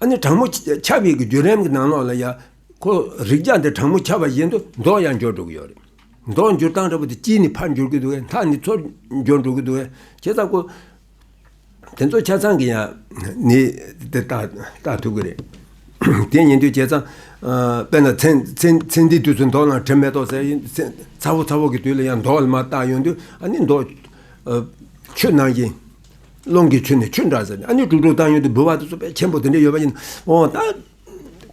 ཨ་ནི་དྲང་མོ་ཆབ་ཡིག་གི་བརྒྱུད་རིམ་གྱི་ནང་ལོགས་ལ་ཡང་ཁོ་རིགས་ཅག་འདི་དྲང་མོ་ཆབ་པ་བཞིན་དུ་མདོག་ཡང་འགྱུར་འགྲོ་གི་ཡོད་རེད། མདོག་འགྱུར་སྟངས་འདྲ་པོ་དེ་དཀྱིལ་ནི་ཕར་འགྱུར་གྱི་འདུག་གས་མཐའ་ནི་ཚུར་འགྱུར་འགྲོ་གི་འདུག་གས་ཇི་ལྟར་ཁོ། དེ་ཚོ་ཆ་ཚང་གི་ཡང་ནི་དེ་ལྟ་བལྟ་ཐུབ་གི་རེད། དེ་ཉིན་དུས་བྱས་ཙང་དཔེར་ན་ཚེ་འདིའི་དུས་སུ་མདོག་ནང་དྲི་མེ་ཏོག་ཟེར་བཞིན་ཚ་བོ་ཚ་བོ་གི་དུས་ལ་ཡང་མདོག་ལ་མ་བརྟགས་ཡོང་དུས་ཨ་ནི་མདོག་ཆུ་ནང་བཞིན། རླུང་གི་ཚུལ་ནི་ཆུ་འདྲ་ཟེར། ཨ་ནི་དྲུག་དྲུག་བཏང་ཡོད་དེ་འབུལ་བ་དེ་ཚོ་ཆེན་པོ་དེ་འདྲ་ཡོད་པ་ཡིན། འོ་ད།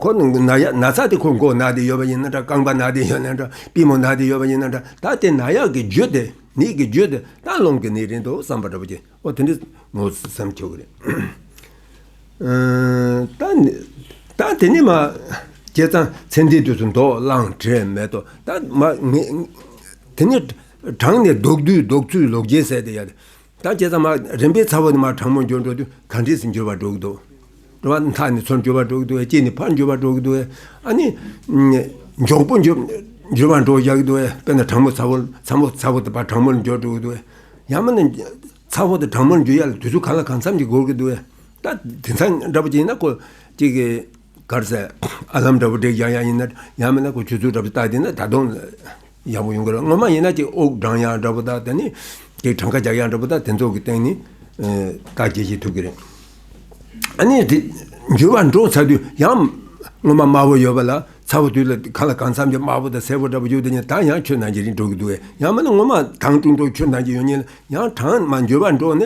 ཁོ་ན་ཡག་ན་ཚ་དེ་ཁོ་མགོ་ན་དེ་ཡོད་པ་ཡིན་ན་འདྲ་རྐང་པ་ན་དེ་ཡོད་ན་འདྲ་པི་མོ་ན་དེ་ཡོད་པ་ཡིན་ན་འདྲ་ད་དེ་ན་ཡག་གི་རྒྱུ་དེ་ནི་གི་རྒྱུ་དེ་ད་རླུང་གི་ནི་རེད་འདུག་བསམ་པ་འདྲ་པོ་གྱིས་འོ་དེ་འདྲ་ངོ་བསམ་ཁྱོད་ཀྱི་རེད། ད་དེ་ནི་མ། ཀྱེ་ཚང་ཚེ་འདིའི་དུས་སུ་མདོག་བླང་བྲལ་མེད་དོ་ད། དེ་ནི་གྲངས་ནི་ལྡོག་དུས་ལྡོག་ཚུལ་ལོག་འགྱེལ་ཟེར་དེ་ཡ། དང་བཅས་ཙམ་མ། རིམ་པས་ཚ་བོ་ནི་མར་གྲང་མོར་འགྱུར་འགྲོ་དུས་གང་འཕྲིས་སུ་འགྱུར་བར་འགྲོ་གི་འདུག། འགྲོ་བ་མཐའ་ནི་ཚུར་འགྱུར་བར་འགྲོ་གི་འདུག་དཀྱིལ་ནི་ཕར་འགྱུར་བར་འགྲོ་གི་འདུག་ཨ་ནི། མགྱོགས་པོ་འགྱུར་འགྱུར་བར་འགྲོ་བཞག་གི་འདུག་དཔེར་ན་གྲང་མོ་ཚ་བོ། ཚ་མོ་ཚ་བོ་དང་བར་གྲང་མོ་ལ་འགྱུར་འགྲོ་གི་འདུག་ཡང་མ་ནི། ཚ་བོ་དང་གྲང་མོ་ལ་འགྱུར་ཡ་ལ་དུས་ཚོད་གང་ལ་གང་འཚམ་ཞིག་འགོར་གི་འདུག་ད་དེ་མཚམས་འདྲ་པོ་ཅིག་ཡིན་ན་ཀོ། གཅིག་གིས། གར་ཟེར། ཨ་ལམ་འདྲ་བོ་འདྲེས་ཀྱང་ཡག་ཡིན་ན་ཡག་མིན་ན་གོ་ཆོད་ཚུལ་འདྲ་བོ་བཏགས་དེ་ན་ད་དུང་ཡག་པོ་ཡོང་གི་རེད་ངོ་མ་ཡིན་ན་ཅིག་དབུགས་འགྲངས་ཡག་འདྲ་བོ་བཏགས་དེ་ནས་ཅིག་གྲངས་ཀ་རྒྱག་ཡག་འདྲ་བོ་བཏགས་དེ་ཚོ་གི་སྟེང་ནས་བརྟག་དཔྱད་བྱེད་ཐུབ་ཀྱི་རེད། ཨ་ནེ་དེ་འགྱུར་བ་འགྲོ་ཚར་དུས་ཡང་སྔོན་མ་དམར་བོ་ཡོད་པ་ལ་ཚ་བོ་དུས་ལ་གང་ལ་གང་འཚམ་གྱི་དམར་བོ་དང་སེར་བོ་འདྲ་བོ་ཡོད་དེ་ནས་ད་ཡང་ཁྱོད་ནང་གི་རིགས་འགྲོ་གི་འདུག་ཡ་མིན་ན་སྔོན་མ་གྲངས་ཅུང་འགྲོ་ཁྱོད་ནང་གི་ཡོད་ཉིད་ལ་ཡང་གྲངས་མ་འགྱུར་བ་འགྲོ་ནི་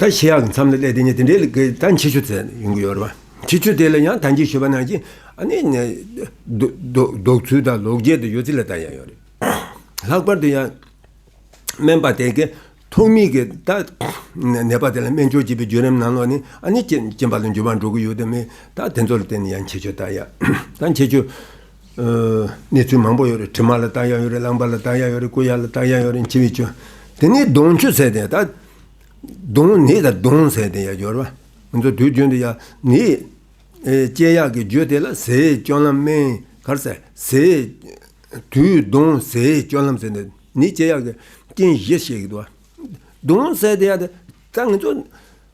ད་ཤི་ཡག་གི་མཚམས་ལ་སླེབས་དེ་ནས་དེ་འདྲའི་ལས་ཀ་ད་མཆིས་ཆུ་ཚད་ཡོང་གི་ཡོད་རེད་བ། མཆིས་ཆུ་དེ་ལ་ཡང་དང་ཅིག་ཤོད་པ་ནང་བཞིན་ཨ་ནེ། ལྡོག་ཚུལ་དང་ལོག་འགྱེལ་དུ་ཡོད་ཚུལ་ལ་ད་ཡང་ཡོད་རེད། ལྷག་པར་དུ་ཡང། སྨན་པ་དེ་གས་ཐོག་མིག་གི་ད་ནད་པ་དེ་ལ་སྨན་སྦྱོར་བྱེད་པའི་བརྒྱུད་རིམ་ནང་ལོག་ནས་ཨ་ནེ་ཅན་པ་ལ་འགྱུར་བ་འགྲོ་གི་ཡོད་དམ་མེད་ད་དེ་ཚོ་ལ་བརྟེན་ནས་ཡང་མཆིས་ཆུ་ད་ཡག་ད་མཆིས་ཆུ། གནས་ཚུལ་མང་པོ་ཡོད་རེད་དྲི་མ་ལ་བལྟ་ཡག་ཡོད་རེད་བླངས་པ་ལ་བལྟ་ཡག་ཡོད་རེད་བསྐུལ་ཡག་ལ་བལྟ་ཡག་ཡོད་རེད་འཆི་བའི་སྐྱོན་དེ་ནས་གདོང་ཆུ་ཟེར་དེ་ད་གདོང་ནི་ད་གདོང་ཟེར་དེ་ཡག་སྦྱོར་བ་ང་ཚོ་དུས་རྒྱུན་དུ་ཡག་ནི་སྐྱེ་ཡག་གི་རྒྱུ་དེ་ལ་ཟས་སྤྱོད་ལམ་སྨན་གར་ཟས་དུས་གདོང་ཟས་སྤྱོད་ལམ་ཟེར་ནི་སྐྱེ་ཡག་གི་རྐྱེན་གཞི་ཞིག་གདོང་ཟེར་དེ་ཡག་ད་ང་ཚོ།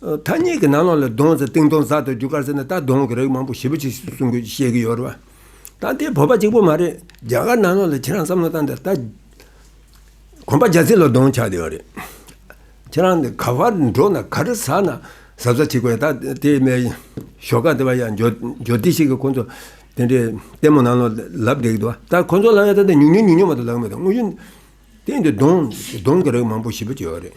མཐའ་སྙེག་གི་ནང་ལོགས་ལ་གདོང་ཟ་སྟེང་གདོང་ཟ་དང་རྒྱུ་སྐར་ཟ་ནི་སྟག་གདོང་གི་རིགས་མང་པོ་ཞིབ་པོ་ཆེ་ཞིག་གསུང་དགོས་ཀྱི་བཤད་ཀྱི་ཡོད་རེད་བ། ད་དེ་བོད་པ་གཅིག་པོ་མ་རེད་རྒྱ་གར་ནང་ལོགས་ལ་ཁྱེད་རང་བསམ་བློ་བཏང་སྟེ་ད། གོམ་པ་རྒྱ་ཚིག་ལ་གདོང་ཆགས་ཡོད་རེད། ཁྱེད་རང་ག་བར་འགྲོ་ན་ག་རེ་ཟ་ན་གཟབ་གཟབ་བྱེད་དགོས་ད་དེ་མའི་ཞོགས་ཀ་དེ་བ་ཡང་འཇོ་སྡེ་ཞིག་གི་ཁོ་ཚོ་དེ་འདྲའི་ལྟད་མོ་ནང་ལོགས་ལབ་བསྡད་ཀྱི་འདུག་ད་ཁོ་ཚོ་ལ་ཡང་ད་ཉུག་ཉུག་ཉུག་ཉུག་མ་གཏོགས་ལབ་མི་འདུག་དངོས་གཞི་སྟེང་དུ་གདོང་གདོང་གི་རིགས་མང་པོ་ཞིབ་པོ་ཆེ་ཡོད་རེད།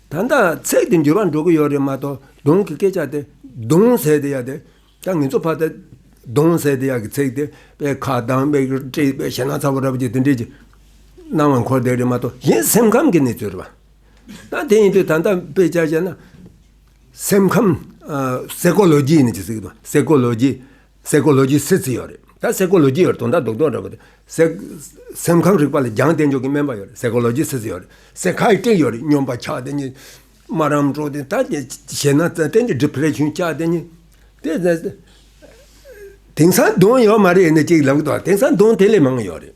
ད་ལྟ་ཚད་འདི་འགྱུར་བ་འགྲོ་གི་ཡོད་རེད་མ་གཏོགས་གདོང་གི་སྐད་ཆ་དེ་གདོང་ཟས་དེ་ཡག་དེ། ད་ངེད་ཚོ་ཕ་ད་གདོང་ཟས་དེ་ཡག་གི་ཚེག་དེ་པའི་ཁ་གདངས་པའི་དཀྲིས་པའི་ཞེ་སྣང་ཚ་བོ་ར་བོ་ཅིག་དེ་འདྲས་ཅིག་སྣང་བ་འཁོར་འདེགས་རེད་མ་གཏོགས་གཞན་སེམས་ཁམས་ཀྱི་གནས་ཚུལ་རེད་པ། ད་དེ་ཡིན་དུས་ད་ལྟ་དཔེ་ཆ་བྱས་ན། སེམས་ཁམས། Psychology ནི་ཅི་ཟེར་གི་དང Psychology། སའི་ཀོ་ལོ་ཇི་སི་ཙི་ཡོད་རེད་ད་སའི་ཀོ་ལོ་ཇི་ཡོད་རེད་དོ་ད་དོག་དོག་འདྲ་པོ་དེ་སའི་སེམས་ཁམས་རིག་པ་ལ་རྒྱང་བསྟེན་ཆོག་གི་སྨན་པ་ཡོད་རེད་སའི་ཀོ་ལོ་ཇི་སི་ཙི་ཡོད་རེད་སའི་ཁ་ཡི་ཀྲིག་ཡོད་རེད་སྙོམས་པ་ཆགས་དེ་གཉིས་སྨ་རམ་འགྲོ་དེ་ད་དེ་བྱེད་ན་ད་ཏན་གྱི་སྒྲིབ་བྲལ་ཆུན་ཆགས་དེ་གཉིས་དེ་དེང་སང་དོན་ཡོད་མ་རེད་ནི་གཅིག་ལབ་གི་དོག་དེང་སང་དོན་དེ་ལས་མང་ཡོད་རེད།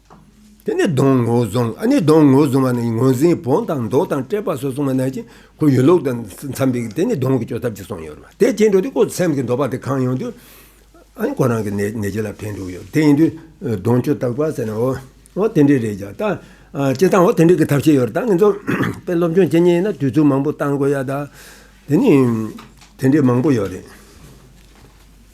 དེ་ནི་གདོང་ངོ་བཟུང་ཨ་ནི་གདོང་ངོ་བཟུང་བ་ནི་ངོས་འཛིན་བོང་དང་མདོག་དང་སྤྲས་པ་སོགས་བཟུང་བ་ནས་ཀྱང་ཁོ་ཡུལ་ལུགས་དང་འཚམས་པའི་དེ་ནི་གདོང་གི་སྐྱོ་ཐབས་ཀྱིས་སོང་ཡོད་རེད་མ་དེ་སྐྱེ་འགྲོ་དེ་ཁོ་སེམས་ཀྱི་འདོད་པ་དེ་གང་ཡོང་དུས་ཨ་ནི་ཁོ་རང་གི་ནད་གཞི་ལ་ཕན་འདུག་ཡོད་དེ་ཡིན་དུས་གདོང་སྐྱོ་ཐབས་ག་ཟེར་ན་འོ་འོ་དེ་འདྲས་རེད་ཀྱང་ད་སྤྱིར་བཏང་འོ་དེ་འདྲས་ཀྱི་ཐབས་ཤེས་ཡོད་རེད་ད་ངེད་ཚོ་དཔེ་སློབ་སྦྱོང་བྱེད་ཉེ་ཡིན་ན་དུས་ཚོད་མང་པོ་བཏང་དགོས་ཡ་ད་དེ་ནི་དེ་འདྲས་མང་པོ་ཡོད་རེད།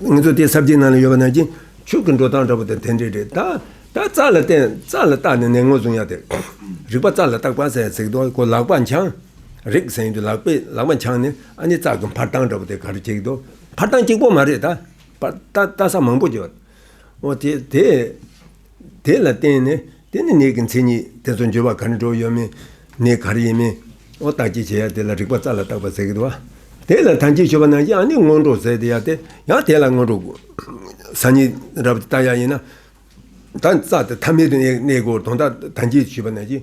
ངེད་ཚོ་དེ་སར་བསྡད་ན་ལ་ཡོད་པ་ན་གྱིན་ཆུ་གི་འགྲོ་སྟངས་འདྲ་པོ་དེ་དེ་འདྲས་རེད་ད། ད་རྩ་ལ་བརྟེན་རྩ་ལ་བརྟག་ནས་ནད་ངོ་བཟུང་ཡག་དེར། རིག་པ་རྩ་ལ་བརྟག་པ་ཟེར་ཟེར་གི་འདུག་ཁོ་ལག་པ་འཆང། རེག་ཟེར་གྱི་འདུག་ལག་པས་ལག་པ་འཆང་ནས་ཨ་ནི་རྩ་གི་འཕར་སྟངས་འདྲ་པོ་དེ་ག་རེ་བྱེད་ཀྱི་འདུག་འཕར་སྟངས་གཅིག་པོ་མ་རེད་ད། བརྟག་ས་མང་པོ་བྱས། འོ་དེ་དེ། དེ་ལ་བརྟེན་ནས་དེ་ནི་ནད་ཀྱི་མཚན་ཉིད་དེ་ཚོ་འགྱུར་བ་ག་ནས་འགྲོ་ཡོད་མིན། ནད་ག་རེ་ཡིན་མིན། ཨོ་བརྟག་དཔྱད་བྱེད་ཡ་དེ་ལ་རིག་པ་རྩ་ལ་བཏགས་པ་ཟེར་གི་འདུག་བ། དེ་ལ་དམ་ཅན་ཆོས་པ་རྣམས་ཀྱིས་ཨ་ནི་སྔོན་འགྲོ་ཟེར་ཏེ་ཡ་དེ་ཡང་དེ་ལ་སྔོན་འགྲོ་ཟ་ཉིན་རབ་བཏགས་ཡ་ཡིན་ན། ད་རྩ་དེ་ཐ་མལ་དུ་གནས་གོ་དོན་དག་དམ་ཅན་ཆོས་པ་རྣམས་ཀྱིས་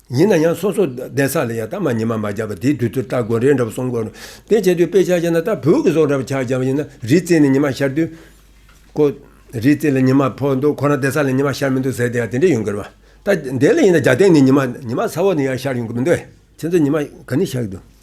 ཡིན་ན་ཡང་སོ་སོ་བསྡད་ས་ལ་ཡང་རྟ་མ་ཉི་མ་མ་བརྒྱབ་པ་དེའི་དུས་ཚོད་སྟ་གོན་རེད་འདྲ་བོ་སོང་དགོས་རེད། དེ་བྱས་དུས་དཔེ་ཆ་བྱས་ན་རྟ་བོད་ཀྱི་ཟོག་འདྲ་བོ་ཆགས་བྱས་པ་ཡིན་ན་རི་རྩེ་ནས་ཉི་མ་ཤར་དུས། ཀོ། རི་རྩེ་ལ་ཉི་མ་ཕོག་འདུག་ཁོ་རང་བསྡད་ས་ལ་ཉི་མ་ཤར་མི་འདུག་ཟེར་དེ་ཡང་དེ་འདྲས་ཡོང་གི་རེད། རྟ་འདེད་ལ་ཡིན་ན་རྒྱ་སྟེང་ནས་ཉི་མ་ཉི་མ་ས་འོག་ནས་ཡང་ཤར་ཡོང་གི་མི་འདུག་ཨེ། ཁྱེད་ཚོ་ཉི་མ་ག་ནས་ཤར་གི་འདུག།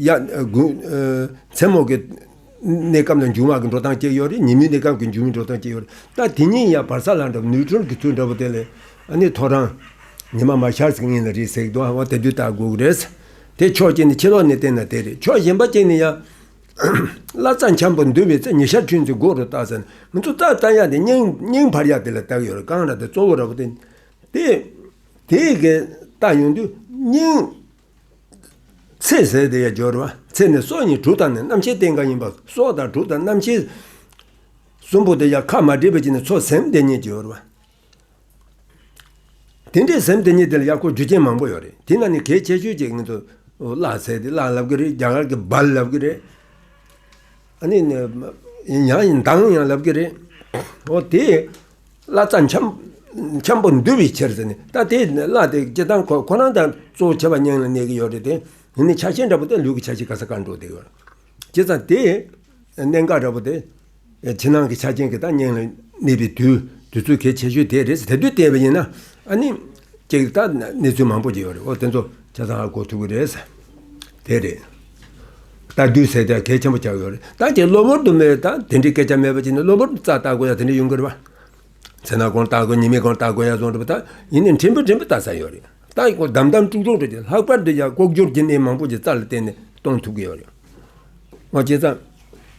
མཚན་མོ་གི་གནས་སྐབས་ལ་འབྱུང་བ་གི་འགྲོ་སྟངས་སྐྱེ་ཡོད་རེད་ཉིན་མོའི་གནས་སྐབས་ཀྱི་འབྱུང་བའི་འགྲོ་སྟངས་སྐྱེ་ཡོད་རེད་ད་དེ་གཉིས་ཡང་བར་ས་ལ་འདྲ་བ་ནུས་ཁྲོལ་གྱི་ཚུལ་འདྲ་བོ་དེ་ལས་ནི་ཐོ་རངས་ཉི་མ་མ་ཤར་ཟིག་གཉིས་ལ་རེད་ཟེར་གི་འདུག་ཨང་དེ་དུས་ལྟ་དགོས་ཀྱི་རེད། དེ་ཕྱོགས་གཅིག་ནས་ཕྱི་ལོགས་ནས་བལྟས་ན་དེ་རེད་ཕྱོགས་གཞན་པ་གཅིག་ནས་ཡང། བླ་རྩ་འཁྱམས་པོ་འདུལ་བའི་ཚེ་ཉི་ཤར་ཐུན་ཅིག་དགོས་རུ་བཏགས་ཟེར་ན་མི་འདུག་རྩ་རྩ་ཡག་དེ་སྙིང་འཕར་ཡག་དེ་ལ་བཏགས་ཡོད་རེད་རྐང་ར་དེ་གཙོ་བོ་ར་བོ་དེ། དེ། དེ་གས་བཏགས་ཡོང་དུས་སྙིང། ཚེ་ཟད་དེ་ཡང་སྦྱོར་བ་ཚེ་ནི་སྲོག་ཉིད་དྲུག་དང་ནི་རྣམ་ཤེས་སྟེ་འགའ་ཡིན་པ་སྲོག་དང་དྲུག་དང་རྣམ་ཤེས་གསུམ་པོ་དེ་ཡང་ཁ་མ་བྲིས་པ་གཅིག་ནི་ཚོགས་སེམས་དེ་ཉིད་སྦྱོར་བ། དེ་འདྲའི་སེམས་དེ་ཉིད་དེ་ལ་ཡང་སྐོར་རྒྱུ་ཅན་མང་པོ་ཡོད་རེད་དེ་ན་ནི་གལ་ཆེ་ཤོས་ཅིག་ངེད་ཚོ་བརླག་ཚེ་དེ་བརླག་ལབ་ཀྱི་རེད་རྒྱ་གར་གྱི་སྦར་ལབ་ཀྱི་རེད། ནི་ཡང་མདངས་ཡང་ལབ་ཀྱི་རེད། འོ་དེས་བླ་རྩ་འཁྱམས་པོ་འདུལ་བའི་ཕྱིར་ཟེར་ནས་ད་དེ་བླ་དེ་སྤྱི་བཏང་ཁོ་རང་དང་གཙོ་བོ་བྱེ་བ་སྙིང་ལ་གནས་ཀྱི་ཡོད་རེད་དེ། ཡིན་ནའི་ཆ་ཤས་འདྲ་པོ་དེ་ལུས་ཀྱི་ཆ་ཤས་ག་ས་གར་འགྲོ་བསྡད་ཡོད་རེད། བྱས་ཙང་དེ་གནད་འགག་འདྲ་པོ་དེ་ཕྱི་ནང་གི་ཆ་རྐྱེན་གྱི་དང་སྙིང་ལ་གནས་པའི་དུས་ཚོད་གལ་ཆེ་ཤོས་དེ་རེད་ཟེར་དུས་བལྟས་པ་ཡིན་ན་ནི་ཅིག་ལྟ་གནས་ཚུལ་མང་པོ་ཞིག་ཡོད་རེད་འོ་དེ་ཚོ་བྱས་ཙང་ཧ་གོ་ཐུབ་ཀྱི་རེད། དེ་རེད། བསྟར་དུས་ཟད་ཀྱང་གལ་ཆེན་པོ་ཆགས་ཡོད་རེད་ད་ཅིག་གློ་བུར་དུ་མེད་ད་དེ་འདྲའི་སྐད་ཆ་མེད་པ་ཅིག་ནི་གློ་བུར་དུ་རྩ་བརྟག་དགོས་ཡ་དེ་འདྲ་ཡོང་གི་རེད་བ། ཚེ་ན་གང་བརྟག་དགོས་ཉི་མས་གང་བརྟག་དགོས་ཡ་བཟོ་འདོད་པ་ད་ཡིན་ནས་འཕྲིན་པོ་འཕྲིན་པོ་བཏགས་ས་ཡོད་རེད་ད་ཡིན་གོ་དམ་དམ་ཀྲུག་ཀྲུག་འགྲོ་རྒྱུ་ལྷག་པར་དུ་ཡ་ལྐོག་གྱུར་གྱི་གནས་མང་པོ་ཅིག་རྩ་ལ་བརྟེན་ནས་གཏོང་ཐུབ་ཀྱི་ཡོད་རེད། ང་སྐྱེས་ཙང།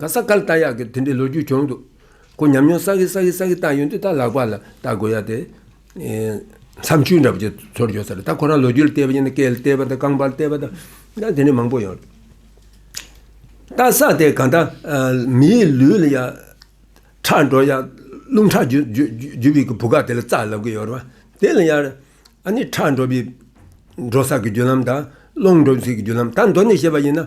ག་ས་ག་ལ་བལྟ་ཡག་གི་དེ་འདྲའི་ལོ་རྒྱུས་བྱུང་འདུག་གོ་ཉམས་མྱོང་ས་གི་ས་གི་ས་གི་བལྟ་ཡོང་དུས་ད་ལག་པ་ལ་བལྟ་དགོས་ཡག་དེ། མཚམས་ཆུ་འདྲ་པོ་ཆེ་ཚོར་འཇོག་ས་རེད་ད་ཁོ་རང་ལོ་རྒྱུས་ལ་བལྟས་པ་ཡིན་ན་སྐད་ལ་བལྟས་པ་དང་རྐང་པ་ལ་བལྟས་པ་དང་ད་དེ་འདྲའི་མང་པོ་ཡོང་རེད། བལྟ་ས་དེ་གང་ལྟ་མིའི་ལུས་ལ་ཡག་ཁྲག་འགྲོ་ཡག་རླུང་ཁྲག་རྒྱུ་བའི་བུ་ག་དེ་ལ་རྩ་ལབ་གི་ཡོད་རེད་པ་དེ་ལ་ཡག་རེད་ཨ་ནི་ཁྲག་འགྲོ་བའི་འགྲོ་ས་གི་རྒྱུ་ལམ་དང་རླུང་འགྲོ་ས་གི་རྒྱུ་ལམ་ད་མདོ་ནས་བཤད་པ་ཡིན་ན་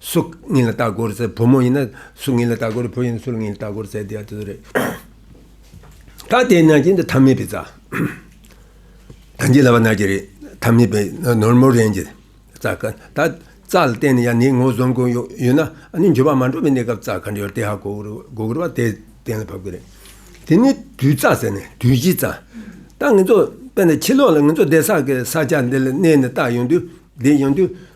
སུ་ངེད་ལ་ལྟ་སྐོར་བཙལ་བུ་མོ་ཡིན་ན་སུ་ངེད་ལ་ལྟ་སྐོར་བུ་ཡིན་ན་སུ་ངེད་ལ་ལྟ་སྐོར་བཙལ་དེ་ཡང་དེ་ཚོ་རེད། ད་དེ་ན་ཅི་འདི་ཐ་མི་པའི་རྩ། ད་འདི་ལ་བ་ན་ཅི་རེད་ཐ་མི་པའི་ནོར་མོ་རེན་གྱི་རྩ་ག་ད་རྩ་ལ་བརྟེན་ནས་ཡང་ནི་ངོ་བཟོང་གོ་ཡོད་ན་ནི་འགྱུར་བ་མ་འགྲོ་བའི་གནས་སྐབས་རྩ་ག་འདྲ་ཡོད་དེ་ཧ་གོ་དགོས་པ་དེ་གཏན་ལ་ཕབ་གི་རེད། དེ་ནི་དུས་རྩ་ཟེར་ནས་དུས་ཀྱི་རྩ། ད་ངེད་ཚོ་དཔེར་ན་ཕྱི་ལོགས་ལ་ངེད་ཚོ་བདེ་གསག་གི་ས་ཆ་འདི་ལ་གནས་ནས་བལྟ་ཡོང་དུས་བསྡད་ཡོང་དུས།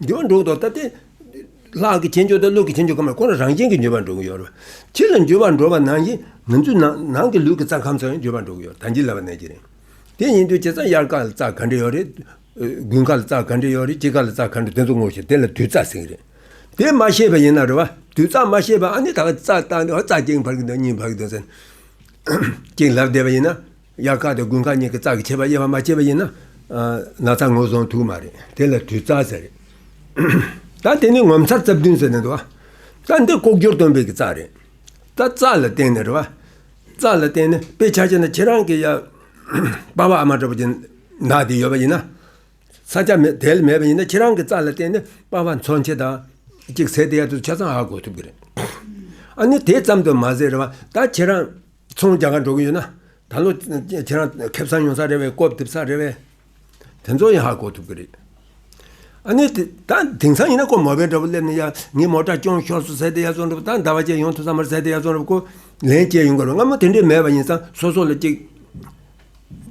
འགྱུར་བ་འགྲོ་གི་འདུག་ད་ལྟའི་ལྷག་གི་བྱེད་འཇོག་དང་ལུག་གི་བྱེད་འཇོག་གང་མང་ཁོ་རང་རང་བཞིན་གྱིས་འགྱུར་བ་འགྲོ་གི་ཡོད་རེད། ཕྱི་ལ་འགྱུར་བ་འགྲོ་བ་ནང་བཞིན་ང་ཚོའི་ནང་གི་ལུས་ཀྱི་རྩ་ཁམས་སུ་ཡང་འགྱུར་བ་འགྲོ་གི་ཡོད་རེད་ད་འཇིག་སླ་བ་ནས་ཀྱི་རེད། དེ་ཡིན་དུས་བྱས་ཙང་དབྱར་ཁ་ལ་རྩ་ག་འདྲ་ཡོད་རེད། དགུན་ཁ་ལ་རྩ་ག་འདྲ་ཡོད་རེད་དཔྱིད་ཁ་ལ་རྩ་ག་འདྲ་དེ་ཚོ་ངོ་ཤེས་དེ་ལ་དུས་རྩ་ཟེར་གི་རེད། དེ་མ་ཤེས་པ་ཡིན་ན་རེད་བ། དུས་རྩ་མ་ཤེས་པ་ཨ་ནི་ད་རྩ་བཏང་སྟེ་རྩ་གཅིག་འཕར་གྱི་འདུག་གཉིས་འཕར་གྱི་འདུག་ཟེར་ན། གཅིག་ལབ་བསྡད་པ་ཡིན་ན། དབྱར་ཁ་དང་དགུན་ཁ་གཉིས་ཀྱི་རྩ་གི་བྱེད་པ་དབྱེ་བ་མ་སྐྱེས་པ་ཡིན་ན། ན་ཚ་ངོས་བཟུང་ཐུག་མ་རེད། དེ་ལ་དུས་རྩ་ཟེར། ད་དེ་ནི་ངོ་མཚར་རྩ་བདུན་ཟེར་ནས་འདུག་ཨ། རྩ་འདི་ལྐོག་གྱུར་སྟོན་པའི་གི་རྩ་རེད། ད་རྩ་ལ་བརྟེན་ནས་རེད་བ། རྩ་ལ་བརྟེན་ནས་དཔེ་ཆ་ཅན་ན་ཁྱེད་རང་གི་ཡ། པ་བ་ཨ་མ་འདྲ་པོ་ཅན། ན་དེ་ཡོད་པ་ཡིན་ན། ས་ཆ་མེད་དེ་ལ་མེད་པ་ཡིན་ན་ཁྱེད་རང་གི་རྩ་ལ་བརྟེན་ནས་པ་བ་མཚོན་བྱེད་དང། གཅིག་ཟེར་དེ་ཡ་དུ་ཆ་ཚང་ཧ་གོ་ཐུབ་གི་རེད། ཨ་ནི་དེ་ཙམ་དུ་མ་ཟད་རེད་བ། ད་ཁྱེད་རང། ཚོང་རྒྱག་ག་འགྲོ་གི་ཡོད་ན། ད་ལོ་ཁྱེད་རང་ཁེབས་ཚང་ཡོང་ས་རེད་བས་རྐོབ་རྡིབ་ས་རེད་བས། དེ་ཚོ་ཡང་ཧ་གོ་ཐུབ་གི་རེད། ཨ་ནི། ད་དེང་སང་ཡིན་ན་ཁོ་མོ་བས་འདྲ་བོ་སླེབས་ནས་ཡ། ངས་མོ་དྲ་སྐྱོང་ཤོར་སོང་ཟེར་ཏེ་ཡར་བཙོང་འགྲོ་བ་ད་ཟླ་བ་ཅན་ཡོང་ཐུབ་ས་མ་རེད་ཟེར་ཏེ་ཡར་བཙོང་རབས་ཁོ་ལན་བསྐྱལ་ཡོང་གི་རེད་སྔ་མོ་དེ་འདྲས་མེད་པ་ཡིན་སང་སོ་སོ་ལ་གཅིག།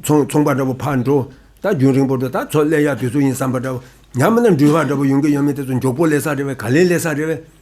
ཚོང་ཚོང་པ་འདྲ་བོ་ཕར་འགྲོ། ད་རྒྱུན་རིང་པོ་འགྲོ་ད་ཚོ་སླེབས་ཡག་དུས་ཚོད་ཡིན་བསམ་པ་འདྲ་བོ། ཉམས་ན་འགྲུལ་བ་འདྲ་བོ་ཡོང་གི་ཡོད་མེད་དེ་ཚོ་མགྱོགས་པོ་སླེབས་ས་རེད་བས་ག་ལེར་སླེབས་ས་རེད་བས།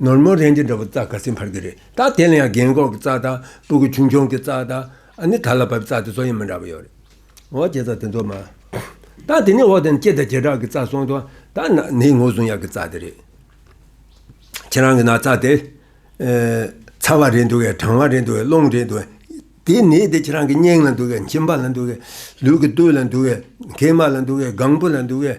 ནོར་མོ་རེད་འདི་འདྲ་བོ་རྩ་དགའ་སེམས་འཕར་གི་རེད་ད་དེ་ལ་ཡང་རྒན་གོག་གི་རྩ་དང་སྤུ་གུ་ཆུང་ཆུང་གི་རྩ་དང་ཨ་ནི་ད་ལ་བབས་རྩ་དེ་ཚོ་ཡང་མི་འདྲ་བོ་ཡོད་རེད་འོ་ཀྱེ་རྩ་དེ་ཚོ་མ་ད་དེ་ནས་འོག་དེ་ནས་སྐྱེ་དང་བྱེ་བྲག་གི་རྩ་སོང་དོ་ད་ན་ནི་ངོ་བཟུང་ཡག་གི་རྩ་དེ་རེད། ཁྱེད་རང་གི་ན་རྩ་དེ། ཚ་བ་རེད་འདུག་གས་གྲང་བ་རེད་འདུག་གས་རླུང་རེད་འདུག་གས་དེ་ནི་དེ་ཁྱེད་རང་གི་སྙིང་ལ་འདུག་གས་མཆིན་པ་ལ་འདུག་གས་ལུས་ཀྱི་སྟོད་ལ་འདུག་གས་མཁལ་མ་ལ་འདུག་གས་སྒང་བུ་ལ་འདུག་གས།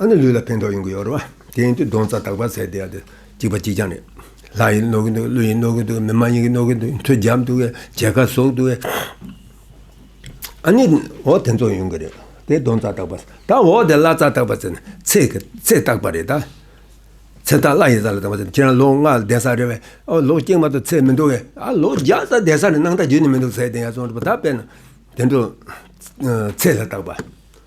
ཨ་ནི་ལུས་ལ་ཕན་ཐོགས་ཡོང་གི་ཡོད་རེད་བ། དེ་ཡིན་དུས་སྡོང་རྩ་དག་པ་ཟེར་བསྡད་ཡ་དེ་གཅིག་པ་གཅིག་རྐྱང་རེད། ལྷ་ཡིན་ནོར་གི་འདུག་ཀླུ་ཡིན་ནོར་གི་འདུག་མི་དམངས་ཡིན་གི་ནོར་གི་འདུག་མཐུ་རྒྱབ་འདུག་གས་མཇལ་ཁ་ཟོག་འདུག་གས། ཨ་ནི་འོ་དེ་ཚོ་ཡོང་གི་རེད། དེ་སྡོང་རྩ་དག་པ། ད་འོ་དེ་བླ་རྩ་དག་པ་ཟེར་ནས་ཚེ་གི་ཚེ་བཏགས་པ་རེད་ད། ཚེ་བཏགས་བླ་ཡི་རྩ་ལ་བཏགས་པ་ཟེར་ནས་ཁྱེད་རང་ལོ་ལྔ་བསྡད་ས་རེད་བས། ཨོ་ལོ་སྐྱིད་མ་གཏོགས་ཚེ་མི་འདུག་གས། ཨ་ལོ་བརྒྱ་རྩ་བསྡད་ས་རེད་སྣང་མཐའ་རྒྱུན་ནས་མི་འདུག་ཟེར་བསྡད་ཡ་སོང་རེད་བ་ད་དཔེར་ན། དེ་འདྲ། ཚེ་ལ་བཏགས་པ།